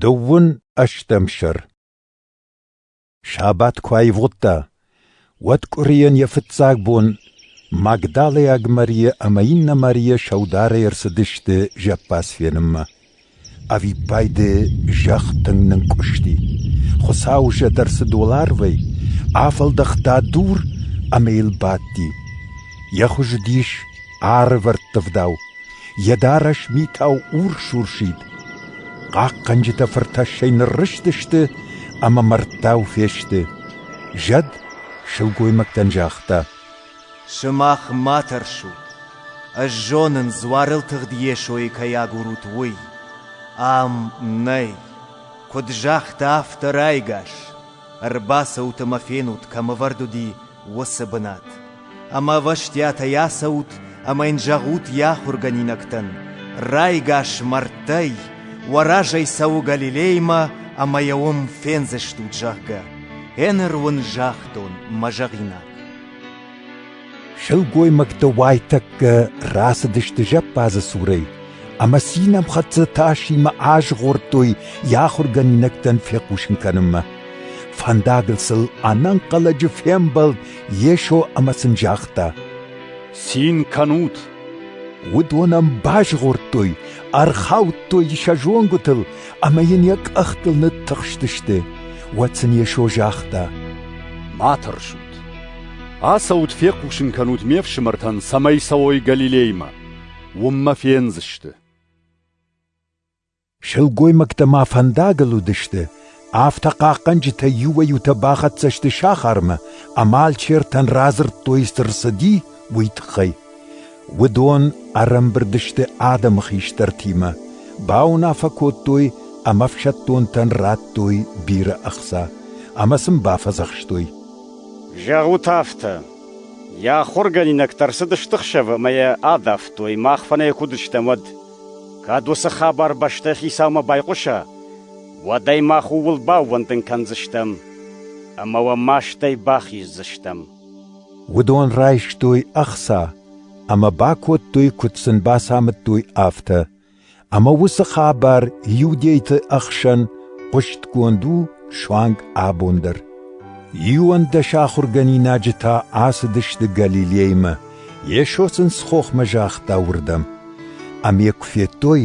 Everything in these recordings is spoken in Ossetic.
Дыууын ӕстӕм сӕр Сабат куы аивгъуыдта, уӕд къуырийӕн йӕ фыццаг бон Магдалӕйаг Марийӕ ӕмӕ иннӕ Марийӕ сӕударӕй ӕрцыдысты зӕппадз фенынмӕ. Ӕвиппайды зӕхх тынг нынкъуысти. Хуыцау зӕд ӕрцыд уӕларвӕй, афӕлдӕхта дур ӕмӕ йыл бадти. Йӕ хуыз уыдис арвӕрттывдау, Йӕ дарӕс митау урс-урсид. Хъахъхъӕнджытӕ фыртӕссӕй ныррызтысты ӕмӕ мӕрдтау фесты. Зӕд сылгоймӕгтӕн загъта: «Сымах ма тӕрсут, ӕз зонын, дзуарыл тыгъд Йесойы кӕй агурут, уый. Ам нӕй, куыд загъта автор ӕгас. Ӕрбацӕут ӕмӕ фенут, кӕм ӕвӕрд уыди уыцы бынат. Ӕмӕ ӕвӕстиатӕй ацӕут ӕмӕ йын зӕгъут йӕ ахуыргӕнинӕгтӕн, райгас мӕрдтӕй, уӕ разӕй цӕуы Галилеймӕ ӕмӕ йӕ уым фендзыстут, зӕгъгӕ. Ӕнӕ руын загътон мӕ зӕгъинаг. Сылгоймӕгтӕ уайтӕккӕ рацыдысты зӕппадзы цурӕй, ӕмӕ цинӕмхӕццӕ тасимӕ азгъордтой йӕ ахуыргӕнинӕгтӕн фехъусын кӕнынмӕ. Фӕндагыл сыл ӕнӕнхъӕлӕджы фембӕлд Йесо ӕмӕ сын загъта: «Цин кӕнут!» Уыдон ӕм базгъордтой, ӕрхаудтой сӕ зонгуытыл ӕмӕ йын йӕ къӕхтыл ныттыхстысты. Уӕд сын Йесо загъта: «Ма тӕрсут! Ацӕут фехъусын кӕнут ме фсымӕртӕн, цӕмӕй цӕуой Галилеймӕ. Уым мӕ фендзысты. Сылгоймӕгтӕ ма фӕндагыл уыдысты, афтӕ хъахъхъӕнджытӕ иуӕй-иутӕ бахӕццӕ сты сахармӕ ӕмӕ алчертӕн радзырдтой, цы рцыди, уый тыххӕй. Уыдон ӕрӕмбырд сты адӕмы хистӕртимӕ, бауынаффӕ кодтой ӕмӕ ӕфсӕддонтӕн радтой бирӕ ӕхца ӕмӕ сын бафӕдзӕхстой. Зӕгъут афтӕ: Йӕ ахуыргӕнинӕгтӕ ӕрцыдысты хсӕвы ӕмӕ йӕ адавтой, мах фӕнӕй куы уыдыстӕм, уӕд. Кӕд уыцы хабар бӕстӕйы хицаумӕ байхъуса, уӕд ӕй мах ууыл баууӕндын кӕндзыстӕм ӕмӕ уӕ мастӕй бахиздзыстӕм. Уыдон райстой ӕхца ӕмӕ бакодтой, куыд сын бацамыдтой, афтӕ. Ӕмӕ уыцы хабар иудейты ӕхсӕн хъуыстгонд у суанг абон дӕр. Иуӕндӕс ахуыргӕнинаджы та ацыдысты Галилеймӕ, Йесо сын схохмӕ загъта уырдӕм. Ӕм йӕ куы федтой,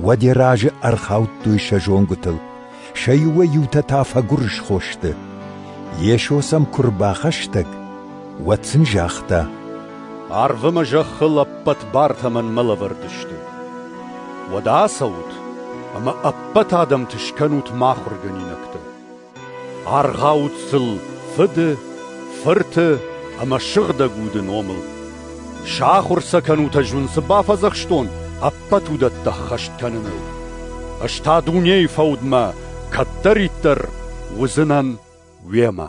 Уӕде разы ӕрхаудтой сӕ зонгуытыл, сӕ иуӕй-иутӕ та фӕгуырысхо сты. Йесо сӕм куы рбахӕстӕг, уӕд сын загъта: «Арв ӕмӕ зӕххыл ӕппӕт бартӕ мӕнмӕ лӕвӕрд сты. Уӕдӕ ацӕут ӕмӕ ӕппӕт адӕмты скӕнут мӕ ахуыргӕнинӕгтӕ. Аргъӕут сыл фыды, фырты ӕмӕ сыгъдӕг уды номыл. Сахуыр сӕ кӕнут ӕз уын цы бафӕдзӕхстон ӕппӕт уыдӕтты ӕххӕст кӕныныл. Ӕз та дунейы фӕудмӕ кӕддӕриддӕр уыдзынӕн уемӕ.